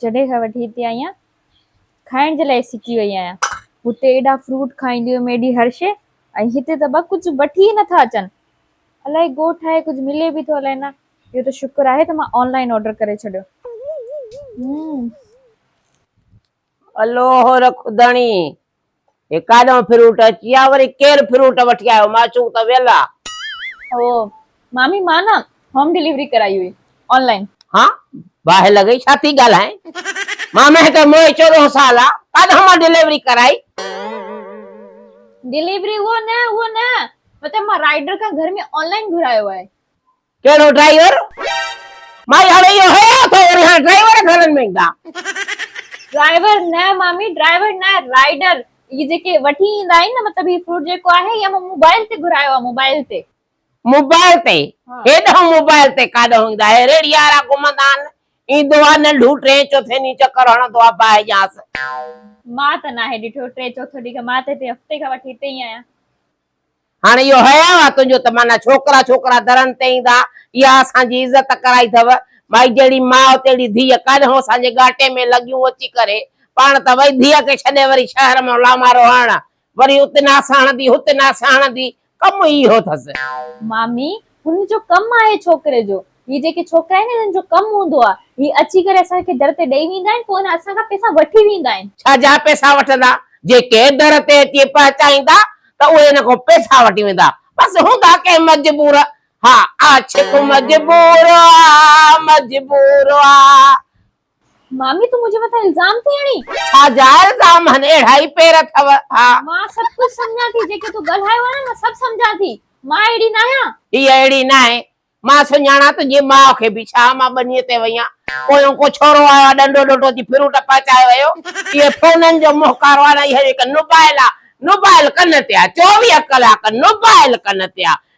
جڏهن کان وٺي هتي آئي آهيان کائڻ جي لاء سڪي وئي آهيان هتي ايڏا فروٽ کائيندي هيم ايڏي هر شي ۽ هتي ته ٻه ڪجهه وٺي ئي نٿا اچن الائي ڳوٺ آهي ڪجهه ملي به ٿو الائي نه اهو ته شڪر آهي ته مان آنلائن آرڊر ڪري ڇڏيو همم. الوهه رک ڌڻي هي ڪاڏانهن فروٽ اچي آ وري ڪير فروٽ وٺي آيو معشوق ته ويل آ. او مامي مان نه هوم ڊليوري ڪرائي هئي آن لائن. ها باهه لڳئي ڇا ٿي ڳالهائين مامي هتي موهي چوڏهن سال آ ڪاڏانهن مان ڊليوري ڪرائي. ڊليوري اهو نه اهو نه مطلب مان رائيڊر کان گهر ۾ آن لائن گهرايو آهي. ڪهڙو ڊرائيور؟ مائي هاڻي اهو هيا اٿو وري هاڻي ڊرائيور گهرن ۾ ايندا. ڊرائيور نه مامي ڊرائيور نه رائيڊر اهي جيڪي وٺي ايندا آهن نه مطلب هي فروٽ جيڪو آهي اهي مون موبائل تي گهرايو آهي موبائل تي. موبائل تي هيڏانهن موبائل تي ڪاڏانهن ايندا اهي ريڙهي وارا گهمندا آهن ايندو آهي ننڍو ٽين چوٿين ڏينهن چڪر هڻندو آهي باهه جيانس. مان ته ناهي ڏٺو ٽين چوٿون ڏينهن کان مان ته هتي هفتي کان وٺي هتي ئي آهيان. هاڻي اهو حياء آ تنهنجو ته معنيٰ ڇوڪرا ڇوڪرا درن تي ايندا، اها اسان جي عزت ڪرائي ٿئو، مائي جهڙي ماء تهڙي ڌيء ڪانهو اسان جي ڳاٽي ۾ لڳيون اچي ڪري، پاڻ ته وئي ڌيء کي ڇڏي وري شهر مان لامارو هڻڻ، وري اتي ناس هڻندي هتي ناس هڻندي، ڪم ئي اهو ٿس. مامي هن جو ڪم آهي ڇوڪري جو هي جيڪي ڇوڪرا آهن هنن جو ڪم هوندو آهي هي اچي ڪري اسان کي در تي ڏئي ويندا آهن پوء هن اسان کان پئسا وٺي ويندا آهن. ڇا جا پئسا وٺندا جيڪي در تي اچي پهچائيندا ته اهي هن کان پئسا وٺي ويندا بس هوندا ڪنهن مجبور ها عاشق مجبور آ مجبور آ. مامي تون منهنجي مٿان الزام ٿي هڻين. ڇا جا الزام هن اهڙا ئي پير اٿو ها. مان سڀ ڪجهه سمجهان ٿي جيڪي تون ڳالهايو آهي نه مان سڀ سمجهان ٿي مان اهڙي ناهيان. هيء اهڙي ناهي مان سڃاڻان تنهنجي ماء کي به ڇا مان ٻنيء تي وئي آهيان پويون ڪو ڇورو آيو آهي ڏنڊو ڏنڊو ٿي ڦرون ٽپا چاهيو هيو اهي فونن جو مهڪارو آهي نه اهو هڪ نوبائل آهي نوبائل ڪن تي آهي چوويهه ڪلاڪ نوبائل ڪن تي آهي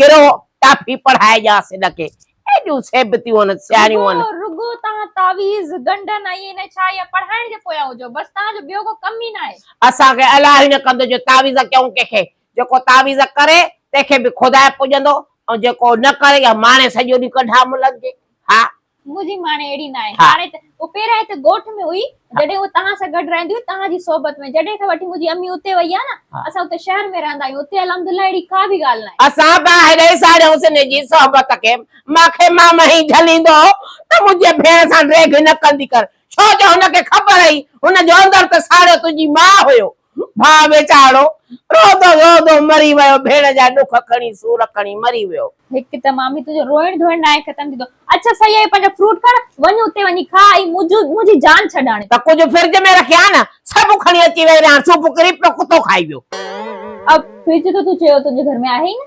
ڪرو ٽافي پڙهائي ڄاس هن کي ايڏيون سيبتيون هن سياڻيون هن. رڳو توهان تعويذ گنڊن ۽ نه ڇا يا پڙهائڻ جي پويان هجو بس توهان جو ٻيو ڪو ڪم ئي ناهي. اسان کي الاهي نه ڪندو جو تعويذ ڪيون ڪنهن کي جيڪو تعويذ ڪري تنهن کي به خدائي پڄندو ۽ جيڪو نه ڪري يا ماڻي سڄو ڏينهن ڪڍا ملن جي ها منهنجي ماڻي اهڙي ناهي. هاڻي ته هوء پهريائين ته ڳوٺ ۾ هئي، جڏهن هوء توهان سان گڏ رهندي هئي، توهان جي صحبت ۾. جڏهن کان وٺي منهنجي امي اتي وئي آهي نه، اسان اتي شهر ۾ رهندا آهيون. اتي الحمدالله اهڙي ڪا به ڳالهه ناهي. اسان ٻاهرئين ساڙيون سن جي صحبت کي. مان کي مامو هي جهليندو هو ته منهنجي ڀيڻ سان ڊيگهه نه ڪندي ڪر، ڇو جو هن کي خبر هئي، هن جو اندر ته ساڙيو تنهنجي ماء هيو. ڀاء ويچارو روئندو روئندو مري ويو ڀيڻ جا ڏک کڻي سور کڻي مري ويو. هڪ ته مامي تنهنجو روئڻ ڌوئڻ ناهي ختم ٿيندو. اچ سهي اهي پنهنجا فروٽ کڻ وڃ اتي وڃي کا ۽ منهنجي جان ڇڏ هاڻي. ته ڪجهه فرج ۾ رکيا ها نه سڀ کڻي اچي ويئي رهاڻ سوڀ ڪري پيو ڪتو کائي ويو. اب فرج ته تون چيو تنهنجي گهر ۾ آهي ئي نه.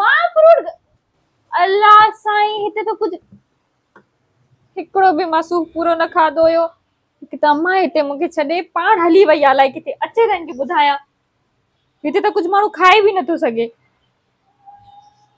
مان فروٽ الله سائين هتي ته ڪجهه هڪڙو به مسوخ پورو نه کاڌو هيو هڪ ته اما هتي مونکي ڇڏي پاڻ هلي وئي آ لائي ڪٿي اچي تنهن کي ٻڌايان هتي ته ڪجهه ماڻهو کائي به نٿو سگهي